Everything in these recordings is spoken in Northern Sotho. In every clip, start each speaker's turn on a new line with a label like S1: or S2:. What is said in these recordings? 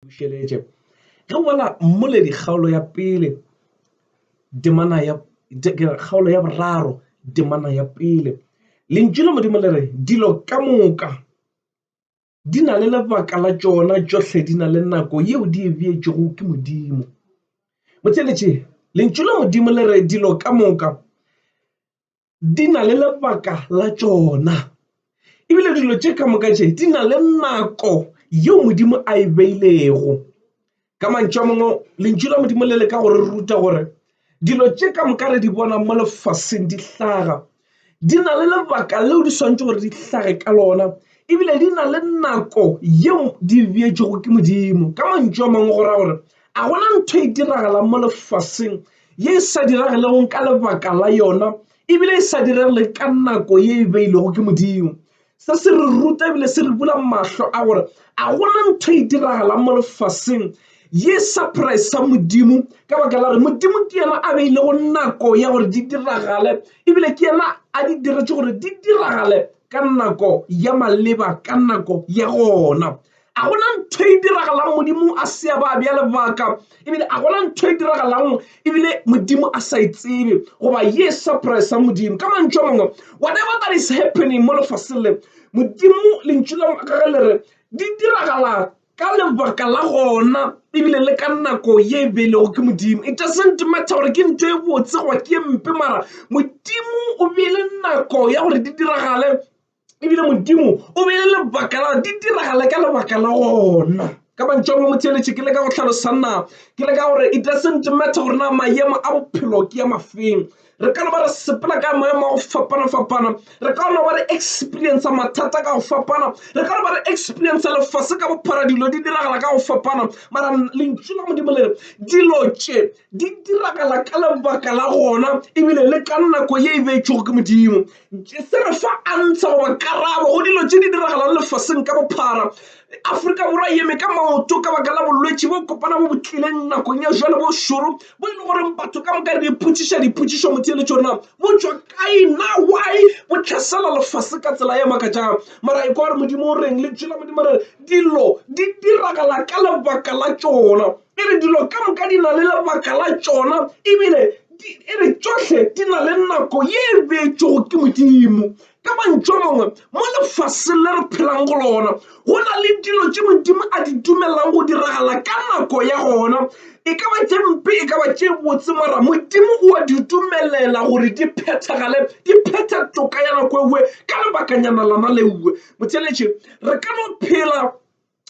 S1: bušeletše ge o bala mmoledi kgaolo ya pele temana ya kgaolo ya boraro temana ya pele lentšu la modimo le re dilo ka moka di na le lebaka la tšona tšohle di na le nako yeo di e beetšego ke modimo botheletše lentšu la modimo le re dilo ka moka di na le lebaka la tšona ebile dilo tše ka moka tše di na le nako yeo modimo a e beilego ka mantšu a mangwe lentšu la modimo le le ka gore ruta gore dilo tše ka moka re di bonang mo lefaseng di hlaga di na le lebaka leo di swantse gore di hlage ka lona ebile di na le nako yeo di beetšego ke modimo ka mantšu a mangwe go ra gore a gona ntho e diragalang mo lefaseng ye e sa diragelegong ka lebaka la yona ebile e sa diregeleng ka nako ye e beilwego ke modimo se se re ruta ebile se re bula mahlo a gore a gona ntho e diragalang mo lefaseng ye surprise sa modimo ka baka la gore modimo ke yena a beile go nako ya gore di diragale ebile ke yena a di diretse gore di diragale ka nako ya maleba ka nako ya gona A go na ntho e diragalang Modimo a se a ba bja lebaka ebile a gona ntho e diragalang ebile Modimo a sa e tsebe goba ye surprise ya Modimo ka mantšu a mangwe whatever that is happening mo lefaseng le Modimo lentšu la gage le re di diragala ka lebaka la gona ebile le ka nako ye e beilego ke Modimo it doesn't matter gore ke ntho e botse goba ke ye mpe mara Modimo o beile nako ya gore di diragale ebile modimo o beile lebaka la di diragala ka lebaka la gona ka mantšwa mo motheletše ke le ka go tlhalosana ke le ka gore it doesn't matter gore na maemo a bophelo ke ya mafeng re ka no ba re sepela ka maemo a go fapana-fapana re ka no ba re experience mathata ka go fapana re ka no ba re experience lefase ka bophara dilo di diragala ka go fapana mara lentšu la modimo le re dilo tše Di diragala ka lebaka la gona ebile le ka nako ye e beetšwego ke Modimo. Se re fa antsha goba karabo go dilo tše di diragalang lefaseng ka bophara. Afrika Borwa e eme ka maoto ka baka la bolwetši bo kopana bo bo tlileng nakong ya bjale bo šoro bo e le goreng batho ka moka re ipotšiša dipotšišo motheeletšo rena bo tšwa kae na why bo tlhasela lefase ka tsela e makatšang mara e kwa gore Modimo o reng le tšwela Modimo re dilo di diragala ka lebaka la tšona. E re dilo ka moka di na le lebaka la tšona ebile e re tšohle di na le nako ye e beetšwego ke modimo ka mantšu a mangwe mo lefaseng le re phelang go lona go na le dilo tše modimo a di dumelelang go diragala ka nako ya gona e ka ba tše mpe e ka ba tše botse mara modimo o a di dumelela gore di phethagale di phetha toka ya nako ewe ka lebakanyana lana leuwe motheletše re ka no phela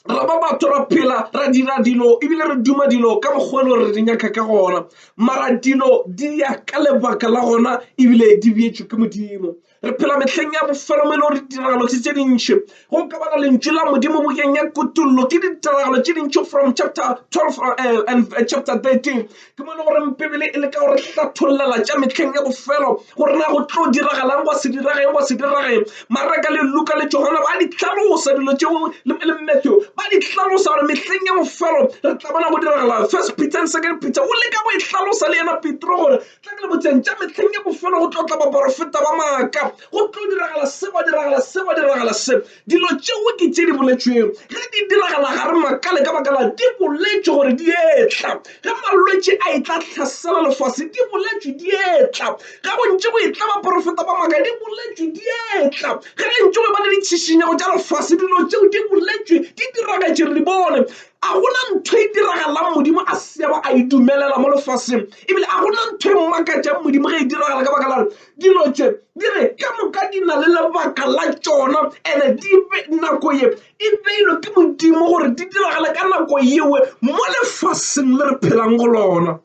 S1: re ba batho ra phela ra dira dilo ebile re duma dilo ka mokgwa le gore di nyaka ka gona mara dilo di ya ka lebaka la gona ebile di beetswe ke modimo re phela metlheng ya bofelo mo e le gore ditiragalo tse tse dintšhi go ka bana lentšu la modimo bokeng ya kutollo ke ditiragalo tse dintšhi from chapter 12 eh, and eh, chapter 13 Ke mo e le goreng Bibele e leka go re hlathollela tša mehleng ya bofelo gore na go tlo diragalang go se dirageng go se dirageng. Maraka le Luka le Johana ba di hlalosa dilo tše le Matthew ba di hlalosa gore mehleng ya bofelo re tla bona go diragala. First Peter and Second Peter o leka go e hlalosa le yena Petro gore tla ke le botseng tša mehleng ya bofelo go tlo tla baporofeta ba maaka go tlo diragala se go diragala se go diragala se. Dilo tšeo ke tše di boletšwego ge di diragala ga re makale ka baka la di boletšwe gore di etla. Ge malwetši a etla hlasela lefase di boletšwe di etla. Ge go ntše go etla baporofeta ba maaka di boletšwe di etla. Ge re ntše go eba le ditšhišinyego tša lefase dilo tšeo di boletšwe di diragetše re di bone. A go na ntho e diragalang Modimo a se ke a ba a e dumelela mo lefaseng ebile a go na ntho e mmakatšang Modimo ge e diragala ka baka la Dilo tše di re ka moka di na le lebaka la tšona ene di be nako ye e beilwe ke Modimo gore di diragale ka nako yewe mo lefaseng le re phelang go lona.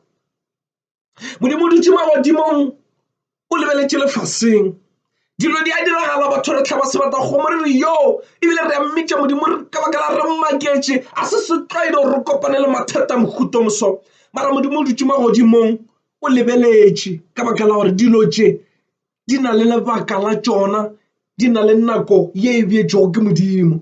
S1: Modimo o dutše magodimong o lebeletše lefaseng dilo di a diragala batho re tlhaba sebata kgomo re re yo ebile re a mmitša modimo ka baka la re mmaketše a se setlwaedi gore re kopane le mathata mohuto moso mara modimo o dutše magodimong o lebeletše ka baka la gore dilo tše di na le lebaka la tšona di na le nako ye e bjetšwego ke modimo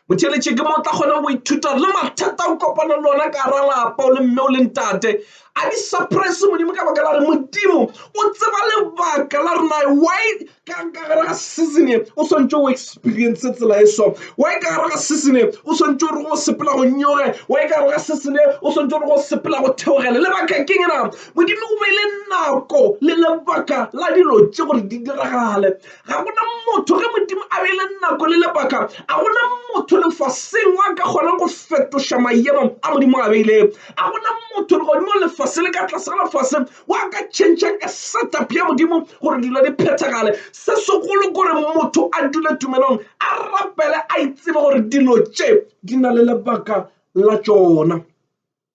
S1: motšheletše ke mo tla kgona go ithuta le mathata o kopana le ona ka ra lapa o le mme o le ntate a di suppress modimo ka baka la gore modimo o tseba lebaka la rena why Ka'ng ka gare ga season e o swantše o experience tsela e so? Why ka gare ga season e o swantše o re go sepela go nyoge? Why ka gare ga season e o swantše o re go sepela go theogele? Lebaka keng na? Modimo o beile nako le lebaka la dilo tše gore di diragale. Ga gona motho ge Modimo a beile nako le lebaka a gona motho lefaseng wa ka kgonang go fetoša mayemo a Modimo a beilego. A gona motho legodimo lefase le ka tlase ga lefase wa ka tšhentšha ka setup ya modimo gore dilo di phethagale se segolo gore motho a dule tumelong a rapele a itsebe gore dilo tše di na le lebaka la tšona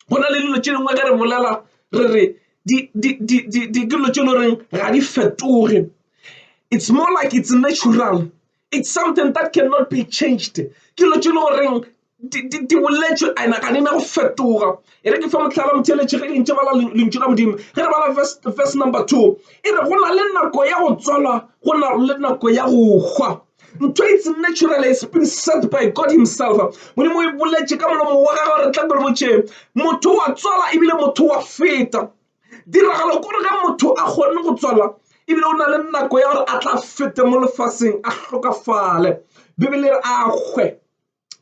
S1: go na le dilo tše dingwe ge re bolela re re dilo tše le goreng ga di fetoge it's more like it's natural It's something that cannot be changed. Ke lo tšelo goreng di boletšwe ena ga di na go fetoga e re ke fa motlhala motheletše ge dintše bala lentšu la modimo ge re bala verse number two e re go na le nako ya go tswalwa go na le nako ya go hwa ntho it's natural it's been said by god himself modimo o e boletše ka molomo wa gagwe re tla gore botšeng motho wa tswala ebile motho wa feta Tiragalo kore ge motho a kgonne go tswala ebile o na le nako ya gore a tla fete mo lefaseng a hlokafale bibele re a hwe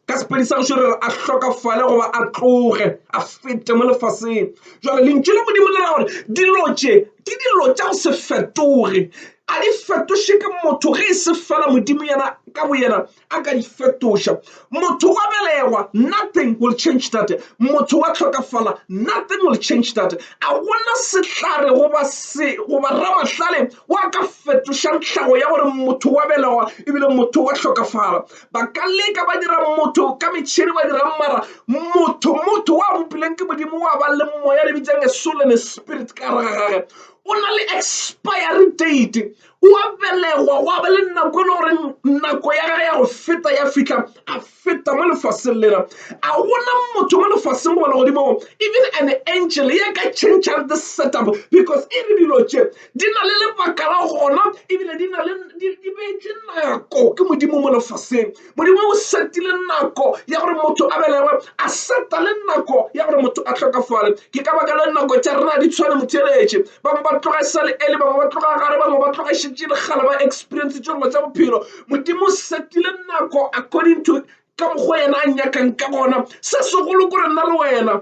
S1: ka sepedi sa gešo re re a hlokafale goba a tloge a fete mo lefaseng jale lentšu la modimo le ra gore dilo tše ke dilo tša go se fetoge a di fetoše ke motho ge e se fela modimo yena ka bo yena a ka di fetoša. Motho wa belegwa, nothing will change that. Motho wa tlhokafala, nothing will change that. A gona sehlare goba se goba ramahlale wa ka fetošang tlhago ya gore motho wa belegwa ebile motho wa tlhokafala. Ba ka leka ba dira motho ka metšhini ba dira mara motho motho wa bopileng ke modimo wa ba le moya le bitsang a soul and a spirit ka gare ga gage o na le expiry date o a belegwa go ba le nako e le gore nako ya gage ya go feta ya fitlha a feta mo lefaseng lena a gona motho mo lefaseng goba legodimo even an angel ya ka changeang this setup because e re dilo tše di na le lebaka la gona ebile di na le di beetše nako ke modimo mo lefaseng modimo o setile nako ya gore motho a belegwe a seta le nako ya gore motho a tlhokafale ke ka baka le nako tša rena di tshwane motheletše bangwe ba tloga e sa le ele bangwe ba tloga gare bangwe ba tloga šetše e legala ba experience tše dilo tša bophelo modimo o setile nako according to ka mokgwa yena a nyakang ka gona se segolo ko re nna le wena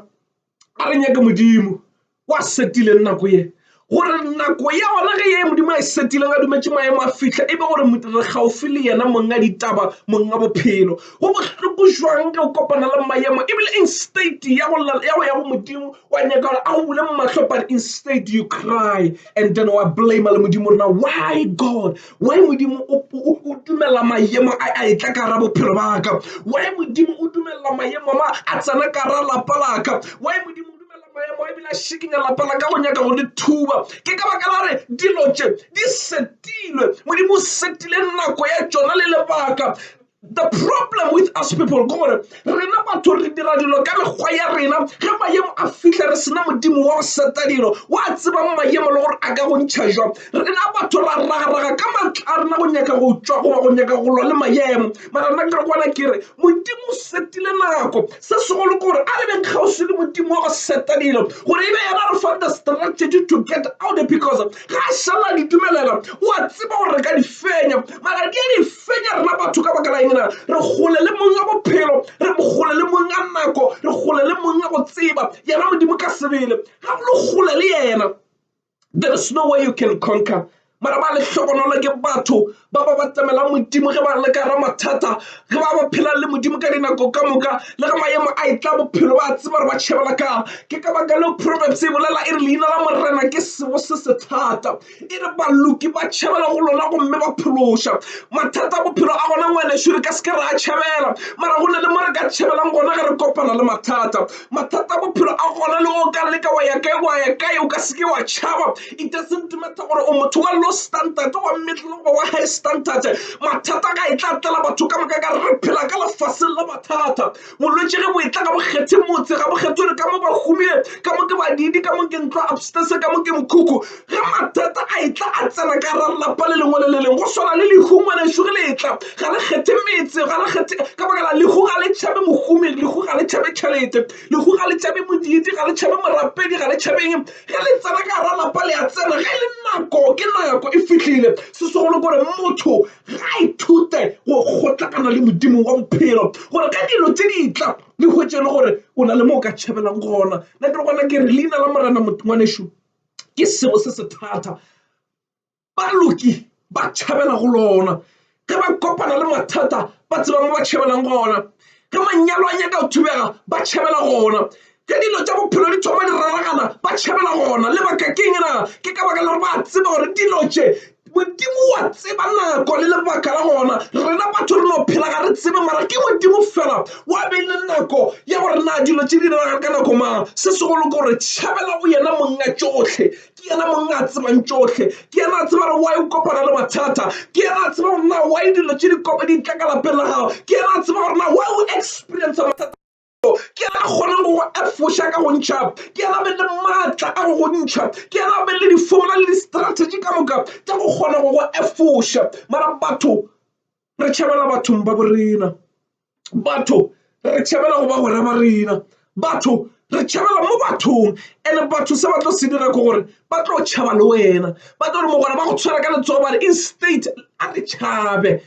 S1: a re nyake modimo wa setileng nako ye gore nako ya gona ge ye modimo a e setileng a dumetše maemo a fitlha e be gore re gaufi le yena monga ditaba monga bophelo go bohloko jwang ka go kopana le maemo ebile instate ya go ya go modimo wa nyaka gore a go bule mahlo but instead you cry and then wa blame le modimo rena why god Why Modimo o dumela mayemo a a etla ka gara bophelo ba ka? Why Modimo o dumela mayemo ma a tsena ka gara lapa la ka? Why Modimo o dumela mayemo a ebile a shikinya lapa la ka go nyaka go le thuba? Ke ka baka la re dilo tše di setilwe. Modimo o setile nako ya tšona le lebaka. The problem with us people ke gore rena batho re dira dilo ka mekgwa ya rena ge mayemo a fitlha re sena modimo wa go seta dilo wa tsebang mayemo le gore a ka go ntšha jwang rena batho ra ragaraga ka matla a rena go nyaka go tšwa goba go nyaka go lwa le mayemo mara nna ke re kwana ke re modimo o setile nako Se segolo ke gore a re beng kgauswi le Modimo wa go setanelo gore e be yena re fang the strategy to get out because ga a šala di dumelela o a tseba gore re ka di fenya mara di a di fenya rena batho ka baka la engena re gole le mong a bophelo re gole le mong a nako re gole le mong a go tseba yena Modimo ka sebele ga go le gole le yena There is no way you can conquer mara ba le hlogonolo ke batho ba ba batamela modimo ge ba le ka ra mathata ge ba ba phela le modimo ka dinako ka moka le ge maemo a e tla bophelo ba tseba gore ba tšhebela ka ke ka baka leo proverbs e bolela e re leina la morena ke sebo se se thata e re baloki ba tšhebela go lona gomme ba phološa mathata a bophelo a gona ngwaneso re ka se ke ra a tšhebela mara go na le mo re ka tšhebelang gona ge re kopana le mathata mathata a bophelo a gona le go ka leka wa ya kae wa ya kae o ka seke wa tšhaba it doesn't matter gore o motho wa low standard wa middle goba wa high standard mathata ga e tla tlela batho ka moka ka re phela ka lefaseng la mathata bolwetse ge bo e tla ga bokgethe motse ga bokgethe gore ka mo ba humile ka mo ke badidi ka mo ke ntlo upstairs ka mo ke mokhukhu ge mathata a etla a tsena ka ra lapa le lengwe le le leng go swana le lehu ngwanešu ge le etla ga le kgethe metse ga le kgethe ka baka la lehu ga le tšhabe mohumi lehu ga le tšhabe tšhelete lehu ga le tšhabe modiidi ga le tšhabe morapedi ga le tšhabeng ge le tsena ka ra lapa le a tsena ge le nako ke nako e fihlile se segolo gore motho ga a ithute go kgotlakana le modimo wa bophelo gore ka dilo tse di tla le hwetše e le gore o na le mo o ka tšhabela gona nna ke re gona ke re leina la morena ngwanešu ke selo se se thata baloki ba tšhabela go lona ge ba kopana le mathata ba tseba mo ba tšhabelang gona ge manyalo a nyaka go thubega ba tšhabela gona ge dilo tša bophelo di thoma di raragana ba tšhabela gona lebaka ke eng na ke ka baka la gore ba tseba gore dilo tše Modimo wa tseba nako le lebaka la gona rena batho re no phela ga re tsebe mara ke modimo fela wa be le nako ya gore na dilo tše di diragale ka nako mang se segolo ke gore tšhabela go yena monga tšohle ke yena mong a tsebang tšohle ke yena a tseba gore wa e kopana le mathata ke yena a tseba gore na wa e dilo tše di kopa di tla ka lapeng la gago ke yena a tseba gore na wa o experience mathata ke ena a kgonang go go efoša ka go ntšha ke ena be le maatla a go go ntšha ke ena be le di-formula le di-strategy ka moka tša go kgona go go efoša mara batho re tšhabela bathong ba bo rena batho re tšhabela go ba gore ba rena batho re tšhabela mo bathong and batho se ba tlo se dira ke gore ba tlo tšhaba le wena ba tlo re mogwera ba go tshwara ka letsogo ba re instate a re tšhabe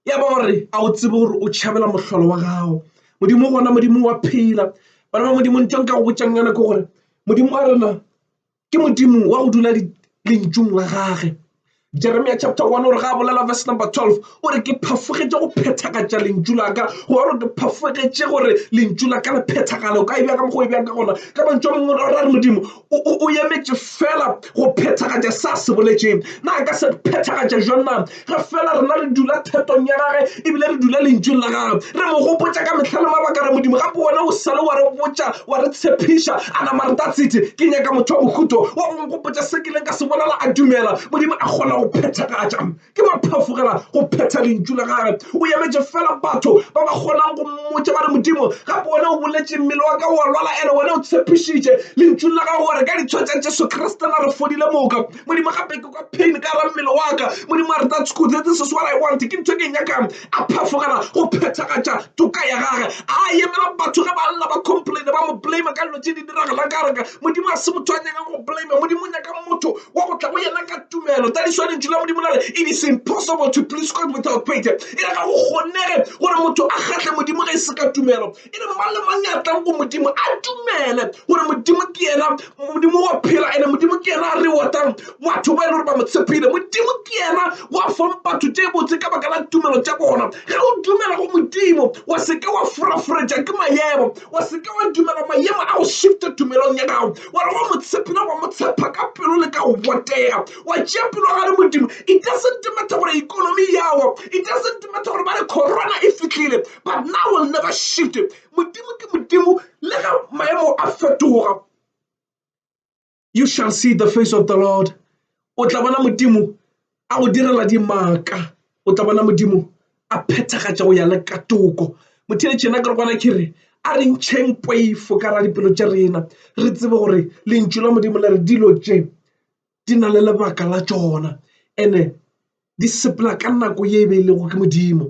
S1: ya ba gore a o tsebe gore o tšhabela mohlolo wa gago modimo gona modimo wa phela bana ba modimo ntho nka go botsang yana ke gore modimo wa rena ke modimo wa go dula lentšung la gage jeremia chapter one gore ga a bolela verse number twelve o re ke phafogetše go phethagatša lentšu laka go gore ke phafogetše gore lentšu la ka le phethagale o ka e bjaka mokgwa e bjaka gona ka mantšu a mangwe o ra re modimo o emetše fela go phethagatša sa se boletšeng na ka se phethagatša jwang na re fela rena re dula thetong ya gage ebile re dula lentšweng la gage re mo gopotša ka mehla le mabaka re modimo gape wena o sale wa re botša wa re tshepiša a nama re tatsithe ke nyaka motho wa bohuto wa go nkgopotša se ke leng ka se bolela a dumela modimo a kgona go phethagatša Ke ba phafogela go phetha lentšu la gage. O emetše fela batho ba ba kgonang go mmotša ba re, Modimo, gape wena o boletše, mmele wa ka o a lwala, ene wena o tshepišitše lentšung la gago gore ka ditshwa tša Jesu Kriste na re fodile moka. Modimo, gape ke kwa pain ka gare ga mmele wa ka. Modimo, a re, That's good. This is what I want. Ke ntho e ke e nyakang. a phafogela go phethagatša toka ya gage a emela batho ge ba lla ba complaine ba mo blame ka dilo tše di diragalang ka reka modimo a se motho a nyaka go blame modimo o nyaka motho wa go tla go yena ka tumelo tsa diswanetši la modimo lare it is impossible to please God without faith e re ga go kgonege gore motho a kgatlhe modimo ge e se ka tumelo e re mang le mang ya tlang go modimo a dumele gore modimo ke yena modimo wa phela ene modimo ke yena a re watang batho ba e le gore ba mo tshepile modimo ke yena wa fang batho tše botse ka baka la tumelo tša bona ge o dumela go modimo wa seke wa furafuretša ke mayemo wa seke wa dumela mayemo a go shifte tumelong ya gago wa re go mo tshepile wa mo tshepa ka pelo le ka go botega wa tšea pelo ga le modimo it doesn't matter gore economy yawa it doesn't matter gore ba re corona e fitlhile but now will never shift modimo ke modimo le ge maemo a fetoga you shall see the face of the lord o tla bona modimo a go direla dimaka o tla bona modimo a phethagatša go ya le ka toko motheletšena ke re kwana ke re a re ntšheng poifo ka ra dipelo tša rena re tsebe gore lentšu la modimo le re dilo tše di na le lebaka la tšona ene di sepela ka nako ye e be e lego ke modimo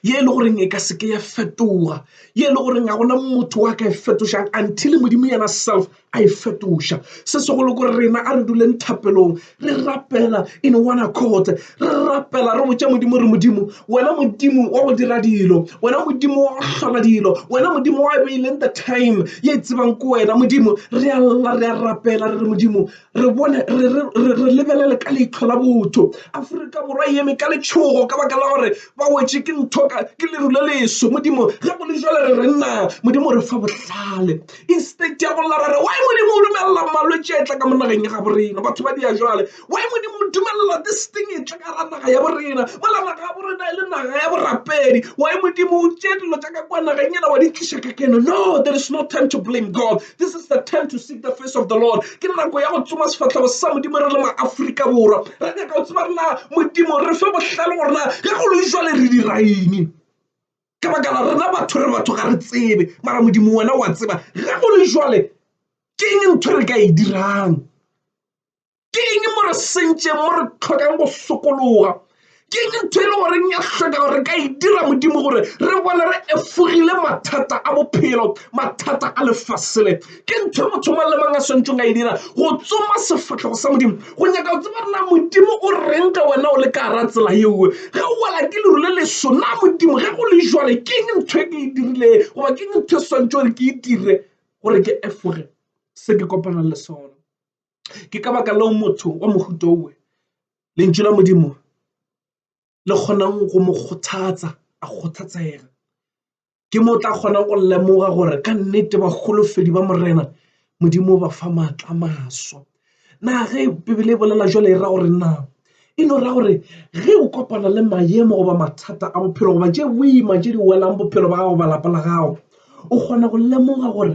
S1: ye e le goreng e ka seke ya fetoga ye e le goreng ga gona motho wa ka e fetošang until modimo yena self a e fetoša se segolo ko rena a re duleng thapelong re rapela in one accord re rapela re botša modimo re modimo wena modimo wa go dira dilo wena modimo wa go hlola dilo wena modimo wa beileng the time ye tsebang ko wena modimo re a lla re a rapela re re modimo re bone re lebelele ka leitlho la botho aforika borwa e eme ka letšhogo ka baka la gore ba wetše ke ntho ke leru le leso modimo ge go le jale re re nna modimo re fa bohlale instead ya go lla re re wa modimo o dumelela malwetse a e tla ka monageng ya gabo rena batho ba dia jale Why Modimo o dumelela this thing e tle ka ra naga ya borena mola naga ya borena e le naga ya borapedi why Modimo o tše dilo tša ka kwa nageng ela wa di tliša ka keno no there is no time to blame God this is the time to seek the face of the Lord ke nako ya go tsoma sefatlhego sa Modimo re le maafrika borwa re nyaka go tseba rena Modimo re fe bohlale gore na ge go le jwale re diraini ka baka la rena batho re batho ga re tsebe mara Modimo wena wa tseba ge go le jwale ke eng ntho re ka e dirang ke eng mo re sentšeng mo re tlhokang go sokologa ke eng ntho e le goreng ya hloka gore re ka e dira modimo gore re bone re efogile mathata a bophelo mathata a lefasele ke ntho e motho mang le mang a swantšong a e dira go tsoma sefatlhego sa modimo go nyaka go tseba rena modimo o reng ka wena o le ka gara tsela yeo ge o wela ke leru le leso na modimo ge go le jwale ke eng ntho e ke e dirile goba ke eng ntho e swantšo gore ke e dire gore ke efoge se ke kopanang le sona Ke ka baka leo motho wa mohuta owe Lentšu la Modimo le kgonang go mo kgothatsa a kgothatsega. Ke mo o tla kgona go lemoga gore ka nnete baholofedi ba Morena Modimo o ba fa maatla a maswa. Na ge Bibele e bolela jwale e ra gore na e no ra gore ge o kopana le maemo goba mathata a bophelo goba tše boima tše di welang bophelo ba gago ba lapa la gago o kgona go lemoga gore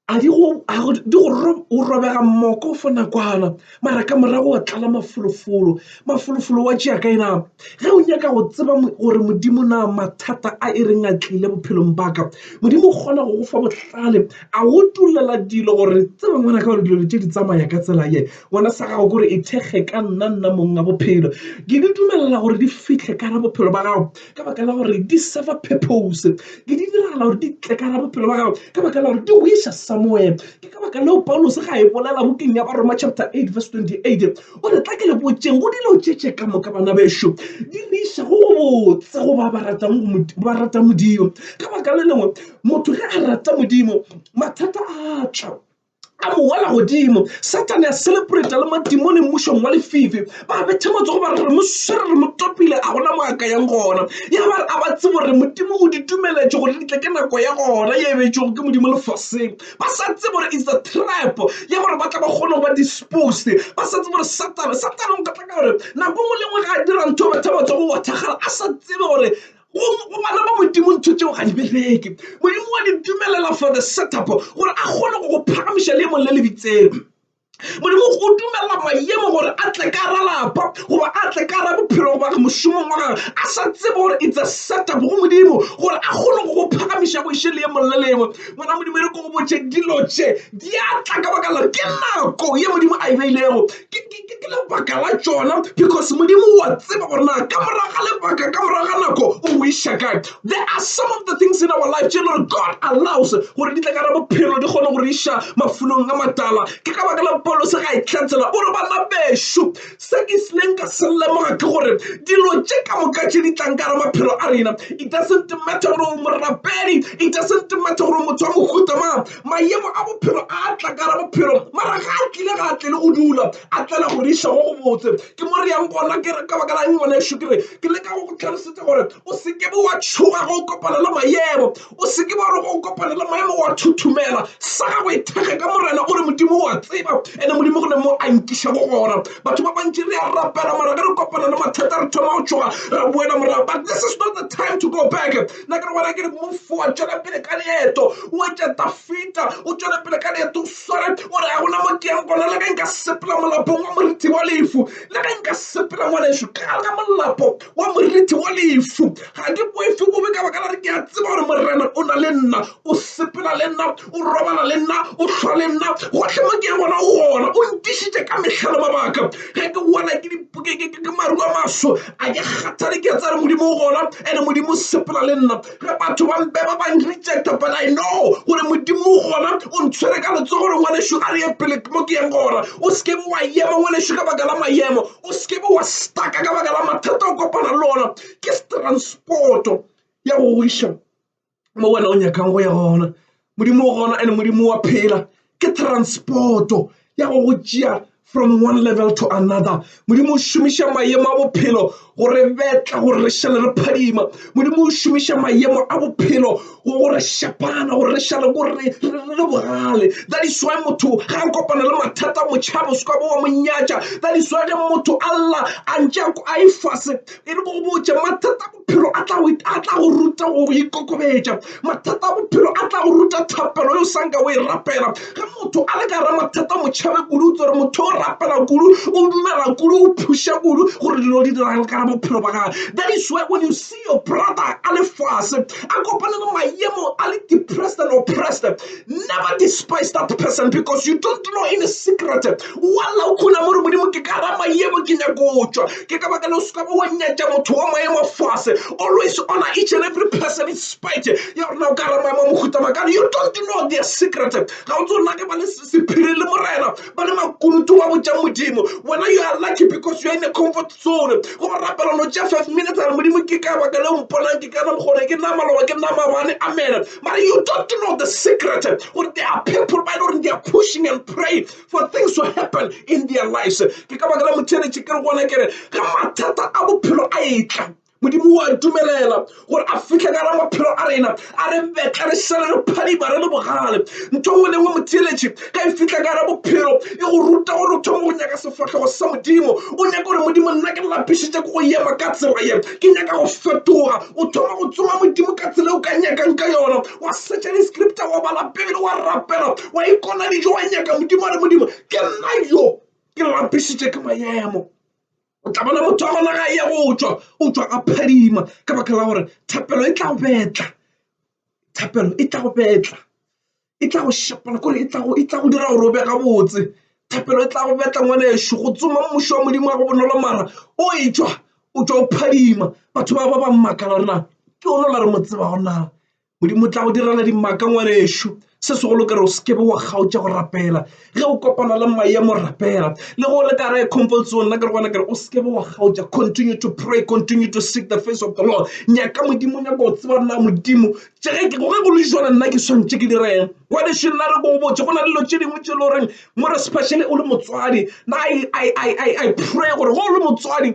S1: A di go, a go, di go ro, o robega mmoko for nakwana, mara ka morago wa tlala mafolofolo. Mafolofolo wa tšea kae na? Ge o nyaka go tseba gore Modimo na mathata a e reng a tlile bophelong ba ka, Modimo o kgona go go fa bohlale, a go tulela dilo gore tsebe ngwana ka gore dilo tše di tsamaya ka tsela ye. Ngwana sa gago kore e thekge ka nna, nna mong a bophelo. Ke di dumelela gore di fihle ka ra bophelo ba gago. ka baka la gore di serve purpose ke di diragala gore di tle ka ra bophelo ba gago ka baka la gore di wisa somewhere ke ka baka leo paulos ga e bolela bokeng ya baroma chapter 8 verse 28 o re tla ke le botseng go dilo tšetše ka moka bana bešo di re iša go botse go ba ba ratang modimo ka baka le lengwe motho ge a rata modimo mathata a tla a bo wela godimo satane a celebrata le madimone mmušong wa lefifi ba bethe matsogo ba re re mo swere re mo topile a gona mo a ka yang gona ya ba re a ba tsebo gore modimo o di dumeletše gore di tle ke nako ya gona ye e betšego ke modimo lefaseng ba sa tsebo gore is a trap ya gore ba tla ba kgone go ba disposed ba sa tsebo gore satane satane o ka tla ka gore nako ngwe le ngwe ga a dira ntho batho ba matsogo wa thakgala a sa tsebe gore Go bana ba Modimo ntho tšeo ga di bereke. Modimo wa di dumelela for the setup gore a kgone go go phagamiša leemong le le bitseng. Modimo o dumelela maemo gore a tle ka ra lapa goba a tle ka ra bophelo goba mošomong wa gagwe a sa tsebe gore it's a setup go Modimo gore a kgone go go phagamiša go iše leemong le lengwe. Ngwana Modimo e re ko go botše dilo tše di a tla ka baka la ke nako ye Modimo a e beilego Ke lebaka la tšona because Modimo o a tseba gore na ka morago ga lebaka, ka morago ga nako o go iša kae. There are some of the things in our life tše e le gore God allows gore di tle ka ra bophelo di kgone go re iša mafolong a matala. Ke ka baka la Paulose ga e hlatsela o re, Bana bešo, se ke isleng ka se lemoga ke gore dilo tše ka moka tše di tlang ka gare maphelo a rena, it doesn't matter gore o morapedi, it doesn't matter gore o motho wa mohuta mang, Mayemo a bophelo a a tla ka gare bophelo, mara ga a tlile ga a tlele go dula, a tlela go re iša go go botse. Ke mo re yang gona. Ke re, Ka baka la'ng, ngwanešu? Ke re, Ke leka go go tlhalosetša gore o se ke be wa tšhoga ge o kopana le mayemo. O se ke be wa re ge o kopana le mayemo wa thothomela. Sa gago e thekge ka Morena. O re, Modimo o a tseba, ene Modimo gona mo a nkiša go gona. Batho ba bantši re a rapela, mara ge re kopana le mathata re thoma go tšhoga, ra boela morago. But this is not the time to go back. nna ke re gona ke re move forward tšwela pele ka leeto o etša tafita o tšwela pele ka leeto o sware o re ga gona mo ke yang gona le ge nka sepela molapong wa morithi wa lefu le ge nka sepela ngwaneso ka gare ga molapo wa morithi wa lefu ga ke boefe bobe ka baka la re ke a tseba gore morena o na le nna o sepela le nna o robala le nna o hlwa le nna gohle mo ke gona o gona o ntišitše ka mehlalo mabaka ge ke wela ke maru a maso a ke kgathale ke tsare modimo o gona ene modimo o sepela le nna ge batho ba mpe ba bang rejecta but i know gore modimo o gona o ntshwere ka letso gore ngwaneso a re ye pele mo ke yeng gona o se ke be wa ema ngwaneso ka baka la maemo o se ke be wa staka ka baka la mathata o kopana le ona ke transporto ya go iša mo wena o nyakang go ya gona modimo o gona ene modimo wa phela ke transporto ya go go tšea from one level to another modimo o šomiša maemo a bophelo go re betla gore re šale re phadima modimo o šomiša maemo a bophelo go go re šapana gore re šale gore re le bogale that is why motho ga a kopana le mathata motšhaba o se ka bo wa monyatša that is why ge motho a lla a ntše a ifase e le go botša mathata bophelo a tla go ruta go ikokobetša. Mathata a bophelo a tla go ruta thapelo yo sa nka o e rapela. Ge motho a le ka ra mathata mo tšhabe kudu o tsere motho o rapela kudu o dumela kudu o phuša kudu gore dilo di diragale ka ra bophelo ba gage. That is why when you see your brother a le fase a kopane le mayemo a le depressed and oppressed Never despise that person because you don't know any secret walla o khuna mo re modimo ke ka ra mayemo ke nyako tšwa ke ka baka le o seka ba wa nyatša motho wa maemo fase always honor each and every person in spite ya gore na o ka ra maemo mohuta makana you don't know their secret ga o tsona ke ba le sephiri le morena ba le makulutu wa botšang modimo wena you are lucky because you are in a comfort zone go ba rapela no tša five minutes a re modimo ke ka baka le o mponang ke kana bokgone ke nama loba ke nama bane amen Mara you don't know the secret. Gore there are people ba lore they are pushing and praying for things to happen in their lives. Ke ka bakala motšheletše ke re gona kere ga mathata a bophelo a etla modimo wa dumelela gore a fitlhe ka ra maphelo a rena a re betla re sele re phadiba re le bogale ntho nngwe le nngwe motheeletše ka e fitlha ka ra bophelo e go ruta gore o thoma go nyaka sefatlhego sa modimo o nyaka gore modimo nna ke lapišitše ke go yema ka tsela ye ke nyaka go fetoga o thoma go tsoma modimo ka tsela o ka nyakang ka yona wa setša di-scripta wa bala pebele wa rapela wa ikona dijo wa nyaka modimo a re modimo ke nna yo ke lapisitše ke maemo o tla bona motho wa gona ga ya go tšwa o tšwa a phadima ka baka la gore thapelo e tla go betla thapelo e tla go betla e tla go šapana kore e tla go dira gore o be gabotse thapelo e tla go betla ngwana ešo go tsoma mmušo wa modimo wa go bonolo mara o e tšwa o tšwa o phadima batho ba ba ba mmakala rena ke ono la re mo tseba gona modimo o tla go direla dimaka ngwana ešo se segolo kare o sekebe wa kgaotša go rapela. ge o kopana le maemo rapela le go le ka re comfort zone nna ke re gona kere o seke wa kgaotša continue to pray continue to seek the face of the lord nyaka modimo nyaka o tseba nna modimo ge ke goge go le jona nna ke swantše ke direng wa dešo nna re ko botse go na le dilo tše dingwe tše le goreng more specially o le motswadi na i pray gore go le motswadi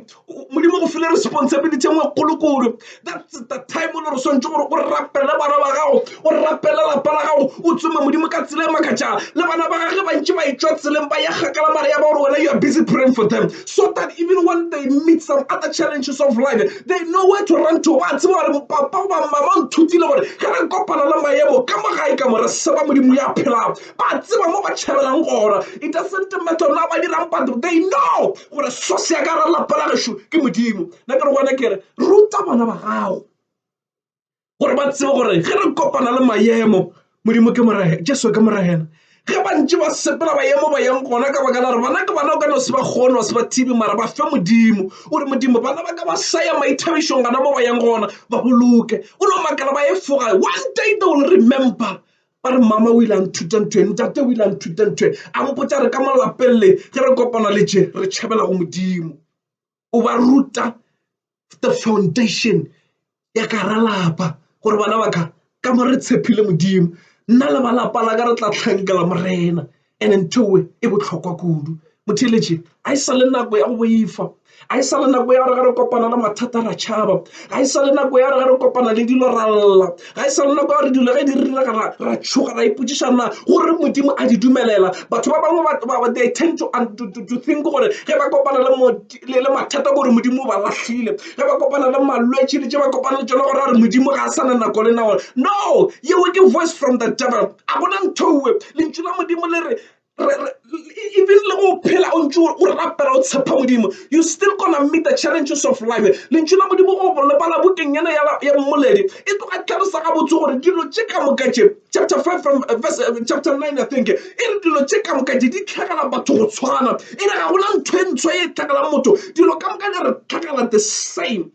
S1: Modimo go file responsibility e nngwe kgolo kore that's the time o le gore swantse gore o rapele bana ba gago o rapele lapa la gago o tsome modimo ka tsela e makatšang le bana ba gage bantši ba etswa tseleng ba ya kgakala mare ya ba gore wena you are busy praying for them so that even when they meet some other challenges of life they know where to run to ba tseba gore papa goba mama nthutile gore ge re kopana le maemo ka mo gae ka more seba modimo ya phelago ba tseba mo ba tšhabelang gona it doesn't matter na ba dirang but they know gore source ya ka ra lapa la gešo ke modimo nna ke re gona kere ruta bana ba gago gore ba tsebe gore ge re kopana le mayemo modimo ke morege jesu ke moregena ge ba ntse ba sepela bayemo ba yang gona ka baka la gore bana ke bana o ka no se ba kgone wa se ba thibi mara ba fe modimo o re modimo bana ba ka ba sa ya maithabišong gana mo ba yang gona ba boloke o no makala ba efoga one day they will remember ba re mama o ile a nthuta ntho e ntate o ile a nthuta ntho e a mpotsa re ka mo lapelele ge re kopana le je re tšhabela go modimo o ba ruta the foundation ya ka ra lapa gore bana ba ka ka mo re tshepile modimo nna le ba lapa la ka re tla tlhankela morena Ene nthoe e bohlokwa kudu. Motheeletši, ga e sa le nako ya go boifa, ga e sa le nako ya gore ge re kopana le mathata ra tšhaba, ga e sa le nako ya gore ge re kopana le dilo ra lla, ga e sa le nako ya gore dilo ge di riregela ra tšhoga ra ipotšiša na gore Modimo a di dumelela. Batho ba bangwe they tend to think gore ge ba kopana le le le mathata gore modimo ba lahlile ge ba kopana le malwetši le tše ba kopana le tšone gore a re modimo ga a sa na nako le nagone no yeo ke voice from the devil a gona nthowe lentšu la modimo le re even le go phela o ntse o rapela o tshepa modimo you still gonna meet the challenges of life lentšu la modimo go lebala bokeng yana ya mmoledi e tloga tlhalosa gabotse gore dilo tše ka moka tše chapter 5 from uh, verse, uh, chapter 9 i think e re dilo tše ka moka di di tlhagela batho go tshwana e re ga gona ntho e ntshwa e tlhagelang motho dilo ka moka di re tlhagela the same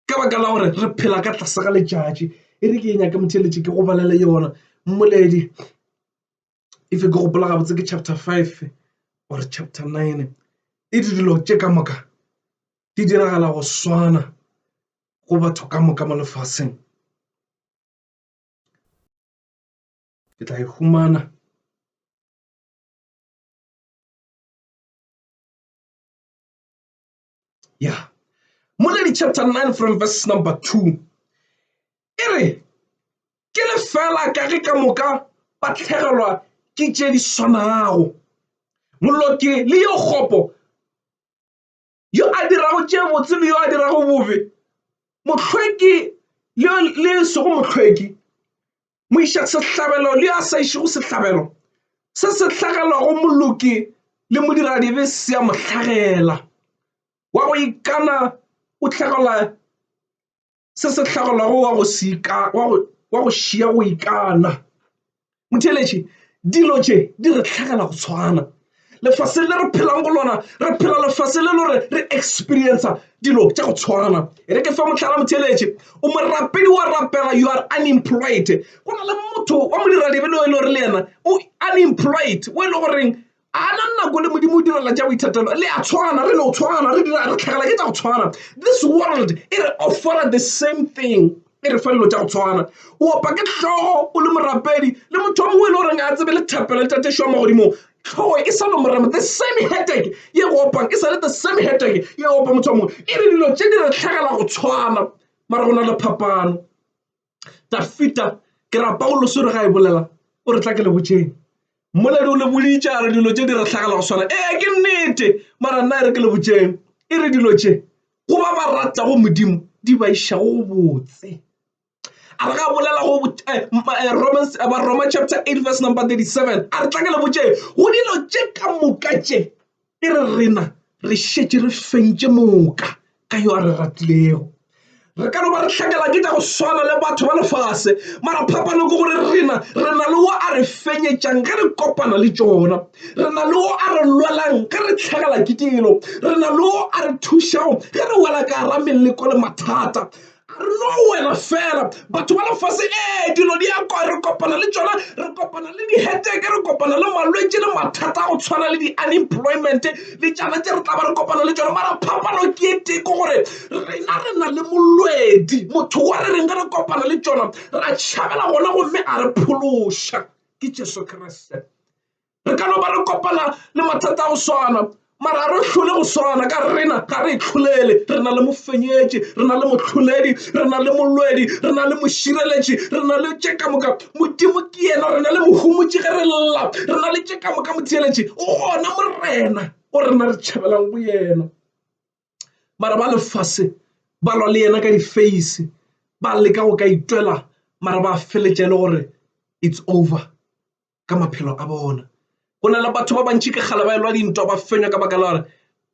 S1: ka baka la gore re phela ka tlase ga letšatši e re ke e nyaka motheletše ke go balela yona mmoledi if ke gopola gabotse ke chapter five or chapter nine e di dilo tše ka moka di diragala go swana go batho ka moka mo lefaseng ke tla e humana ya Moledi chapter 9 from verse number 2 e re ke le fela ka ge ka moka ba tlhegelwa ke tše di swanago moloki le yo kgopo yo a dirago tše botse le yo a dirago bobe mohlweki le sego mohlweki moišasehlabelo le yo a sa išego sehlabelo se se hlagelwago moloki le modiradibe se a mo hlagela wa go ikana o tlhagelwa se se hlagelwago wa go seka wa go šia go ikana motheletši dilo tše di re tlhagela go tshwana lefaseng le re phelang go lona re phela lefase le lore re experienca dilo tša go tshwana e re ke fa motlhala motheletše o morapedi wa rapela you are unemployed go na le motho wa modiradibeloe le gore le yena o unemployed o e le goreng a na nako le modimo o direla ja boithatelo le a tshwana re no tshwana re dira re tlhagela ke tsa go tshwana this world e re offera the same thing e re fa dilo tša go tshwana o opa ke tlhogo o le morapedi le motho wa mongwe e le goreng a tsebe le thapelo le tatešo mo godimo tlhogo e sa le morama the same headache ye go opang e sa le the same headache ye opa motho wa mongwe e re dilo tše di re tlhagela go tshwana mara go na le phapano tafita ke ra pauloso re ga e bolela o re tla ke le botšeng Mmoledi o le boditše a re dilo tše di re hlagela go swana. Ee, ke nnete, mara nna e re ke le botšeng. E re dilo tše go ba ba ratago Modimo di ba išago go botse. A re ga bolela go eh, eh, Romans, eh, Roma chapter 8 verse number 37 a re tla ke le botšeng go dilo tše ka moka tše E re rena re šetše re fentše moka ka yo a re ratilego. Re ka no ba re hlakela ke tša go swana le batho ba lefase, mara phapano ke gore rena re na le wo a re fenyetšang ge re kopana le tšona, re na le wo a re lwelang ge re hlagela ke dilo, re na le wo a re thušago ge re wela ka gara meleko le mathata. Re no wela fela, batho ba lefase. Ee, dilo di a kwa, re kopana le tšona, re kopana le diheteke, re kopana le malwetši le mathata a go tshwana le di-unemployment le tšana tše re tla ba re kopana le tšona. Mara phapano ke e tee, ke gore rena re na le molwedi, motho wa re reng ge re kopana le tšona ra tšhabela gona, gomme a re phološa. Ke Jesu Kriste. re ka no ba re kopana le mathata a go swana mara a re hlole go swana ka rena ga re tlholele re na le mofenyetši re na le motlholedi re na le molwedi re na le mošireletši re na le tše ka moka modimo ke yena re na le mohumotši ge re lla re na le tše ka moka motheeletši o gona morena o rena re tšhabelang go yena mara ba lefase ba lwa le yena ka difeisi ba leka go ka itwela mara ba feletša e le gore it's over ka maphelo a bona go na le batho ba bantši ka kgale ba elwa dintwa ba fenywa ka baka la gore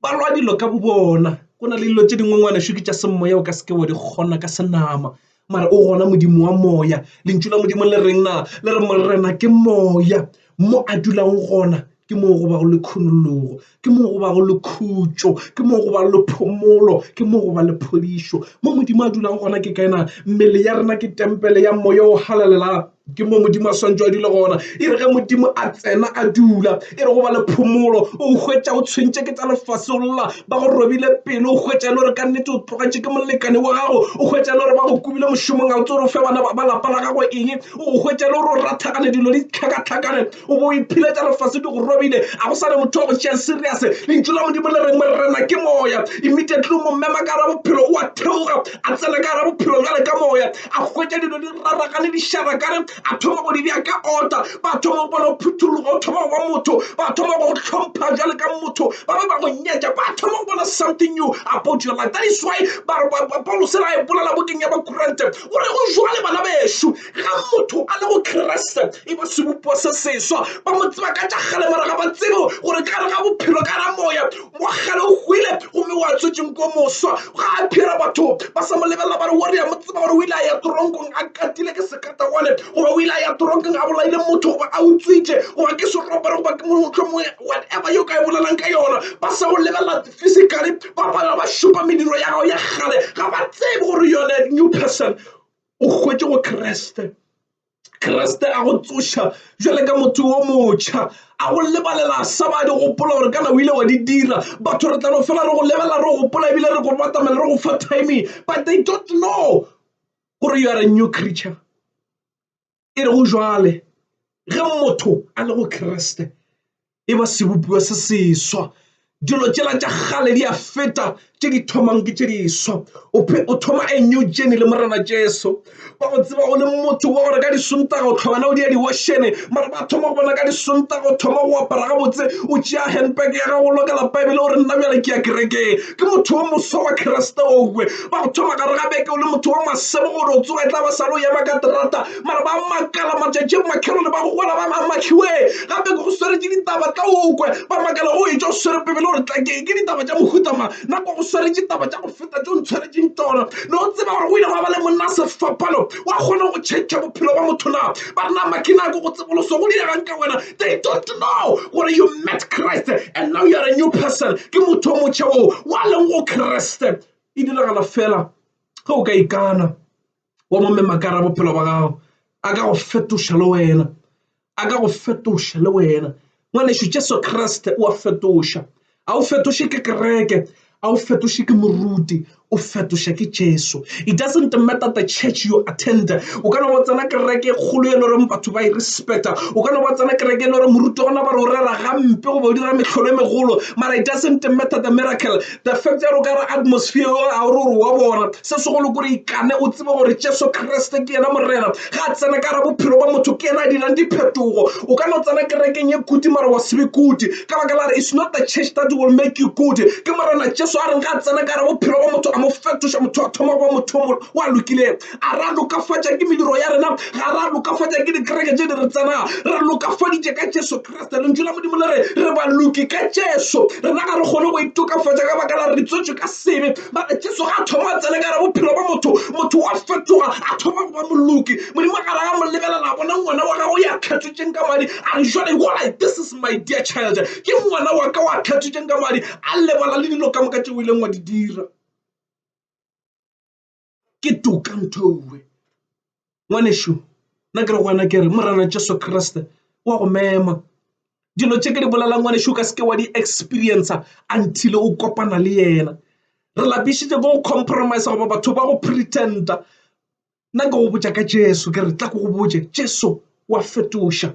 S1: ba lwa dilo ka bo bona go na le dilo tse dingwe ngwana šuke tša semoya o ka seke wa di kgona ka senama mara o gona modimo wa moya lentšu la modimo le reng na le re morena ke moya mo a dulang gona ke moo go ba go le khunologo ke mo go ba go le khutšo ke mo go ba le phomolo ke mo go ba le phodišo mo Modimo a dulago gona ke kae na mmele ya rena ke tempele ya moya o halalelang ke mo Modimo a swantšwe a dule gona e re ge Modimo a tsena a dula e re go ba le phomolo o hwetša o tshwentše ke tsa lefase o lla ba go robile pelo o hwetša e le gore ka nnete o tlogetše ke molekane wa gago o hwetša e le gore ba go kubile mošomong a o tse gore o fe bana ba lapa la gago eng o hwetša e le gore o rathagane dilo di tlhakatlhakane O be o iphiletša lefase di go robile. A go sa ne motho wa go tšea serious. Lentšu la Modimo le reng, Morena ke Moya. Immediately o mo mema ka gara bophelo, o a theoga, a tsena ka gara bophelo bjale ka Moya. A hwetša dilo di raragane, di šarakane, a thoma go di bea ka order. Ba thoma go bona o phuthologa, o thoma go ba motho. Ba thoma go go hlompha bjale ka motho. Ba be ba go nyetša, ba thoma go bona something new about your life. That is why ba re, Paulose le a e bolela bukeng ya Bakorente, o re, Go jwale bana bešo, ga motho a le go kreste e ba sebopo se seswa ba mo tseba ka tša kgale mara ga ba tsebo gore ka re ga bophelo ka ra moya wa kgale o hwile gomme wa tswetseng ko moswa ga a phira batho ba sa mo lebelela ba re wo re ya mo tseba gore o ile a ya toronkong a katile ke sekata gone goba o ile a ya toronkong a bolaile motho goba a utswitše goba ke seropere goba ke motlhomo whatever yo ka e bolelang ka yona ba sa go lebelela physically ba pala ba šupa mediro ya gago ya kgale ga ba tsebe gore yone new person o hwetše go kreste kreste a go tsoša jale ka motho wo motšha a go lebalela sa ba di gopola gore kana o ile wa di dira batho re tla no fela re go lebela re gopola ebile re go batamela re go fa timing but they don't know gore you are a new creature e re go jwale ge motho a le go kriste e ba sebopiwa se seswa dilo tšela tša gale di a feta tše di thomang ke tše diswa o thoma a new journey le morena jesu ba go tseba o le motho wa gore ka disonta go tlhogana o di ya diwoshene mara ba thoma go bona ka disonta go thoma go apara gabotse o tšea handbag ya gago lokela bibele o re nna bjale ke ya kerekeng ke motho wa moswa wa kreste owe ba go thoma gare ga beke o le motho wa masebo gore o tsoga e tla ba sa le o yema ka terata mara ba makala matšatši a makhelone ba go gola ba mamakhiwe gape ke go swere ke ditaba tla okwe ba makala go etša o swere pebele gore tla ke ke ditaba tša mohutama nako go swere ditaba tša go feta tšo ntshwaretseng tsona ne o tseba gore o ile go ba le monna sefapano wa kgona go tšhetšha bophelo ba motho na ba re nama ke nako go tseboloso go diregang ka wena they don't know gore you met christ and now you are a new person ke motho o motšha oo wa leng go kreste e diragala fela ge o ka ikana wa mo memakara bophelo ba gago a ka go fetoša le wena a ka go fetoša le wena Ngwanešu, Jesu Kriste o a fetoša. A o fetoše ke kereke, a o fetoše ke moruti, o fetoša ke Jesu. It doesn't matter the church you attend. O ka no ba tsena kereke e kgolo e le goreng batho ba e respecta. O ka no ba tsena kereke e le gore moruti gona ba re o rera gampe goba o dira metlholo e megolo. Mara it doesn't matter the miracle. the fact ya gore ka re atmosphere yo a gore gore wa bona se segolo kore ikane o tsebe gore jesu kriste ke yena morena ga a tsena ka ra bophelo ba motho ke yena a dirang diphetogo o ka no tsena kerekeng ye kuti mara wa sebe kuti ka baka la re it's not the church that will make you good ke morena jesu a reng ga a tsena ka ra bophelo ba motho a mo fetoša motho a thoma ba motho mo wa lokileng a ra lokafatša ke mediro ya rena ga ra lokafatša ke dikereke tse di re tsenang re lokafaditše ka jesu rata lentšu la modimo le re re ba loki ka jesu rena ga re kgone go itokafatša ka baka la re ditswetšwe ka sebe mara jesu ga a thoma a tsene ka re bophelo ba motho motho wa fetoga a thoma go ba moloki modimo ga ra ya mo lebelela bona ngwana wa gago ya kgethotšeng ka madi a re jale go like this is my dear child ke ngwana wa ka wa kgethotšeng ka madi a lebala le dilo ka moka tšeo e leng wa di dira ke toka nthoue ngwanešu nna ke re gona ke re morena jesu kriste wa go mema dilo tše ke di bolelang ngwanešu ka seke wa di experiencer until o kopana le yena re lapišitše ko go compromise goba batho ba go pretenda nna ke go botša ka jesu ke re tla ko go botše jesu wa fetoša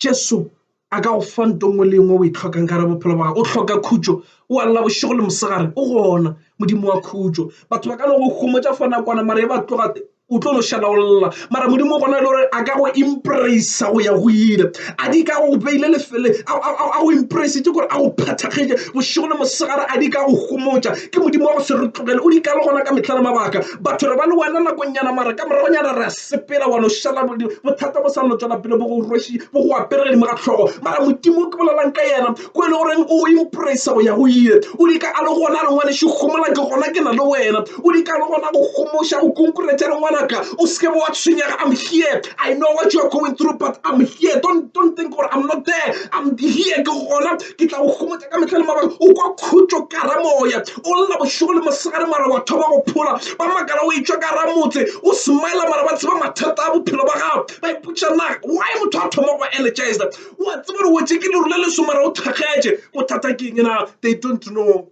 S1: jesu a ka go fa nto nngwe le nngwe o e tlhokang ka re bophelo ba gago o hloka khutšo o a lla bošego le mosegare o gona modimo wa khutšo batho ba ka no go humotša fo nakwana mara e ba tloga o tlo no šala o lla mara modimo gona e le gore a ka go impracea go ya go ile a di ka go beile lefele a go impracee gore a go phathakgetse bošego le mosegare a di ka go humotša ke modimo wa go se re tlogele o di ka le gona ka metlha le mabaka batho re ba le wena nakong nyana mara ka moragonyana re sepela wa no šala bothata bo sa no tšwela pele bo go rweši bo go apere godimo ga tlhogo mara modimo ke bolelang ka yena ko e le goreng o impressa go ya go ile o di ka a le gona le ngwaneše gomola ke gona ke na le wena o di ka le gona go gomoša go konkuretša le ngwanaka o seke bo wa tshwenyega i'm here i know what you are going through but i'm here don't, don't think gore i'm not there i'm here ke gona ke tla go gomotsa ka metlha le mabaka o kwa khutšo ka ra moya o lla bošego le mosegare mara wa thoma go phola ba makala o etswa ka ra motse o smile mara ba tseba mathata a bophelo ba gago ba ipotša na why motho a thoma go energize o a tseba gore wetse ke leru le leso mara o thakgetše bothata ke eng na they don't know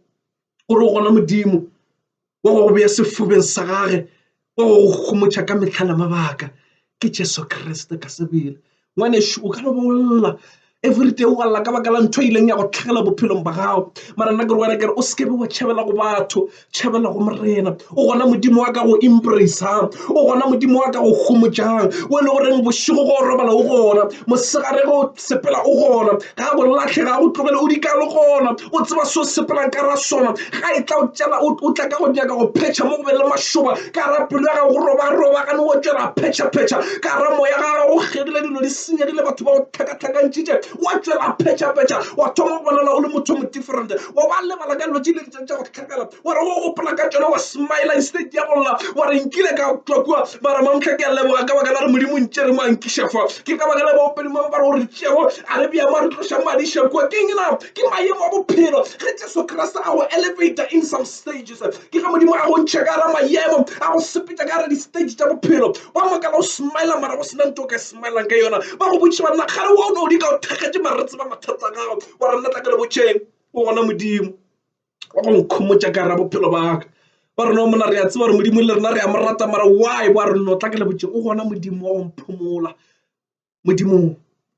S1: o re gona Modimo wa go go beya sefubeng sa gage wa go go gomotšha ka mehla le mabaka ke Jesu Kriste ka sebele ngwanešu o ka re bolla everyday o galla ka baka la ntho e ileng ya go tlhagela bophelong ba gago mara nna ke re wena kere o seke be wa tšhabela go batho tšhabela go morena o gona modimo wa ka go embracang o gona modimo wa ka go gomotšang o e le goreng bošego go robala o gona mosegare go sepela o gona ga go latlhe ga go tlogele o dikalo gona o tseba se o sepelang ka ra sona ga e tla o tšela o tla ka go nyaka go phetšha mo go be le mašoba ka ra pelo ya gago go robaroba gane o tšwela phetšhaphetšha ka ra moya ga gago go kgegile dilo di senyegile batho ba go tlhakatlhakantšitše wa tšwela phetšhaphetšha wa thoma go bonala o le motho mo different wa ba lebala ka dilo tše dintšeng tša go tlhakala wa re go gopola ka tšona wa smile instead ya go lla wa re nkile ka tšwa kua ba re mamtlha ke a leboga ka baka la re modimo ntše re mo a nkiša fa ke ka baka la baopedi mang ba re gore tšego a re bjama re tloša madiša kua ke eng na ke maemo a bophelo ge jesu kriste a go elevator in some stages ke ge modimo a go ntšha ka ra maemo a go sepetša ka ra di-stage tša bophelo wa makala o smile mara go sena nto o ka smilang ka yona ba go botšiša banna kgale wa o ne o di ka o thekgetše mare re tseba mathata gago wa re nna tla ke le botšeng o gona modimo ba go nkhomotša ka ra bophelo baka ba rona o mona re a tseba gore modimo le rena re a mo rata mara why wa re lotla ke lebotse o gona modimo wa go mphomola modimo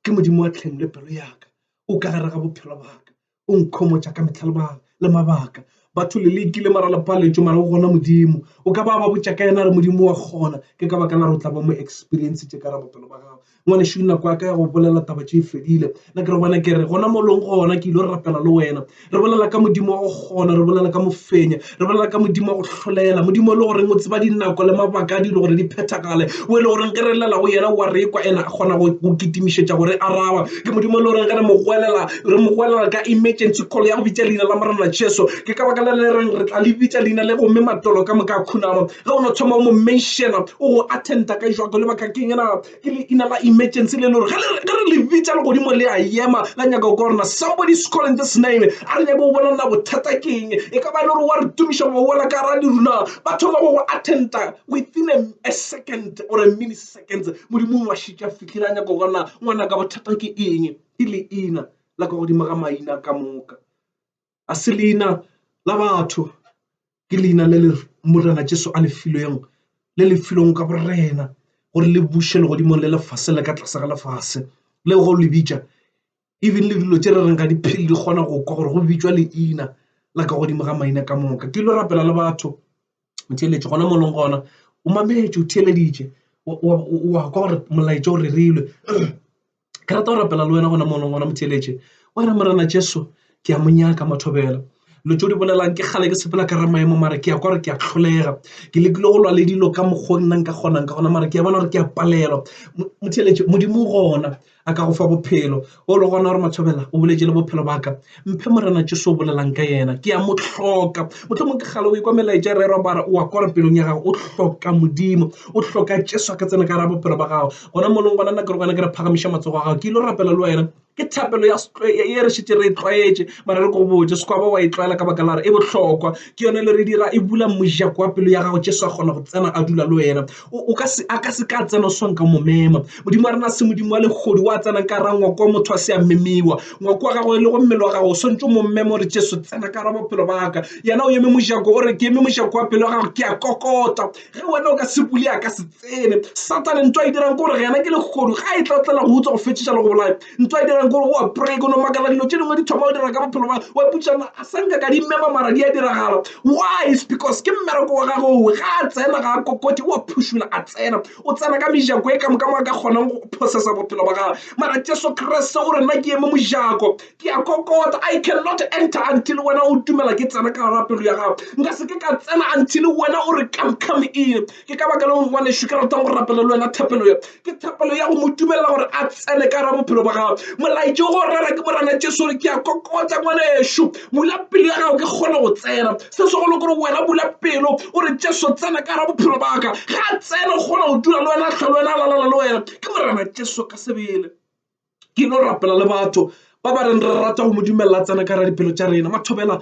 S1: ke modimo wa tlheng le pelo yaka o ka gare ga bophelo baka o nkhomotša ka metlha lebaka le mabaka batho le lekile mara le paletšo mara o gona modimo o ka ba ba botša ka yena re modimo wa kgona ke ka baka la re o tla ba mo experience tše ka ra bophelo ba gago ngwane šwi nako yaka ya go bolela taba tše fedile na ke re gona ke re gona mo leng gona ke ile go rapela le wena re bolela ka modimo wa go kgona re bolela ka mofenya re bolela ka modimo wa go hlolela modimo e le goreng o tseba dinako le mabaka a dilo gore di phethagale o e le goreng ge re lela go yena wa rekwa ena a kgona go kitimišetša gore araba ke modimo e le goreng ge re mo goelela re mo goelela ka emergency call ya go bitša leina la morena jesu ke ka baka le le reng re tla le bitša leina le gomme matolo ka moka a khunama Ge o no thoma o mo menšena, o go attenda ka išwa go lebaka keng? Na ke leina la emergency le le gore ge le, ge re le bitša legodimo le a ema, la nyaka go kwa gore na somebody is calling this name. A re nyake go bona na bothata ke eng. E ka ba e le gore wa re tumiša wa wela ka gare ga leru. Na ba thoma go go attenda within a, a second or a milliseconds. Modimo o a šetše a fihlile a nyaka go bona na ngwanaka bothata ke eng. Ke leina la ka godimo ga maina ka moka. a se leina la batho ke leina le le Morena Jesu a le filweng le le filweng ka borena gore le buše legodimong le lefase le ka tlase ga lefase le go le bitša even le dilo tše re reng ga di phele di kgona go kwa gore go bitšwa leina la ka godimo ga maina ka moka ke ile rapela le batho theeletše gona molong gona o mametše o theeleditše wa kwa gore molaetša o rerilwe ke rata go rapela le wena gona mono gona motheeletše o re morena jesu ke a mo nyaka mathobela lo tšo di bolelang ke kgale ke sepela ka ra maemo mare ke ya kwa gore ke a tlholega ke lekile go lwa le dilo ka mokgwa nna nka kgonang ka gona mare ke ya bona gore ke a palelwa motheeletše modimo gona a ka go fa bophelo o le gona gore mathobela o boletše le bophelo baka Mphe Morena Jesu o bolelang ka yena, ke a mo hloka. Mohlomong ke kgale o ekwa melaetša e rerwa bara o a kwara pelong ya gago, o hloka Modimo, o hloka Jesu a ka tsena ka gara bophelo ba gago. Gona molong gona nna ke re gona ke re phagamiša matsogo a gago, ke ile rapela le wena ke thapelo ya ye re šetse re e tlwaetše mara re ko botse sekwaba wa e tlwaela ka baka la re e bohlokwa ke yone le re dira e bula mojako wa pelo ya gago jesu a kgona go tsena a dula le wena o ka se a ka se ka tsena o swang ka momema modimo wa rena se modimo wa legodi wa tsenang ka ra ngwako wa motho wa se ya memiwa ngwako wa gago e le go mmele wa gago o swantse mo mmema gore jesu tsena ka ra bophelo baka yena o eme mojako o re ke eme mojako wa pelo wa gago ke a kokota ge wena o ka se bule a ka se tsene satane nto a e dirang ke gore yena ke legodu ga e tla o tlela go utswa go fetšetša le go bolaya ntwa e dirang kore wa pray kono makala dilo tse dingwe di thoma go dira ka bophelo ba wa putsana a sanka ka dimema mara di a diragala why is because ke mmereko wa gago owe ga a tsena ga a kokoti wa phušula a tsena o tsena ka mejako e ka moka mo a ka kgonang go processa bophelo ba gagwe mara jesu kreste gore nna ke eme mojako ke a kokota i cannot enter until wena o tumela ke tsena ka garapelo ya gago nka se ke ka tsena until wena o re come come in ke ka baka leo ngwanešu ke ratang go rapela le wena thapelo ya ke thapelo ya go mo dumelela gore a tsene ka ra bophelo ba gago molaetše go rera ke morana jesu gore ke ya kokotsa ngwanešu bula pelo ya gago ke kgone go tsena se segolo gore wena bula pelo o re jesu tsena ka ra bophelo baka ga tsene kgona go dula le wena tlhole wena lalala le wena ke morana jesu ka sebele ke no rapela le batho ba ba reng re rata go mo dumelela a tsena ka ra dipelo tša rena mathobela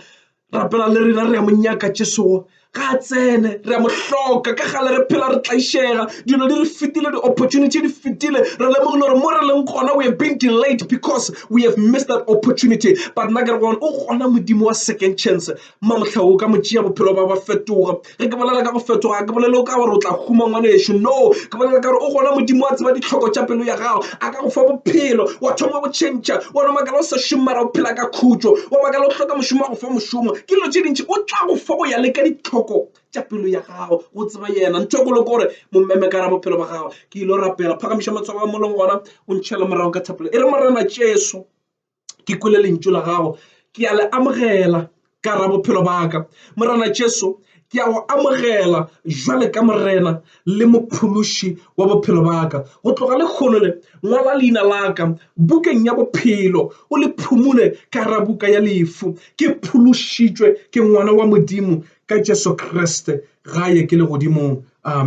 S1: rapela le rena re ya mo nyaka tšesogo ga a tsene re ya mo hloka ka gale re phela re tlaišega dilo di re fetile di-opportunity di fetile re lemogile gore mo re leng gona we are being delayed because we have missed that opportunity but nna ke re gone o gona modimo wa second chance Malgabe o ka mo tšea bophelo ba ba fetoga. Ge ke bolela ka go fetoga ga ke bolele o ka gore o tla huma ngwanešu. No, ke bolela ka gore o gona Modimo a tseba ditlhoko tša pelo ya gago. A ka go fa bophelo, wa thoma go tšhentšha. Wena o makala o sa šome mara o phela ka khutšo. Wa makala o hloka mošomo a go fa mošomo. Ke dilo tše dintši o tla go fa go ya le ka ditlhoko tša pelo ya gago. Go tseba yena ntho e kgolo ke gore mo mmeme ka gare bophelo ba gago. Ke ile go rapela. Phagamiša matsogo a mo leng gona o ntšhele morago ka thapelo e re, Morena Jesu, ke kwele lentšu la gago ke a le amogela ka ra bophelo baka morena jesu ke a go amogela jwale ka morena le mophološi wa bophelo baka go tloga le kgolo le ngwala leina laka bukeng ya bophelo o le phumule ka ra buka ya lefu ke phološitšwe ke ngwana wa modimo ka jesu kriste gae ke le godimong amen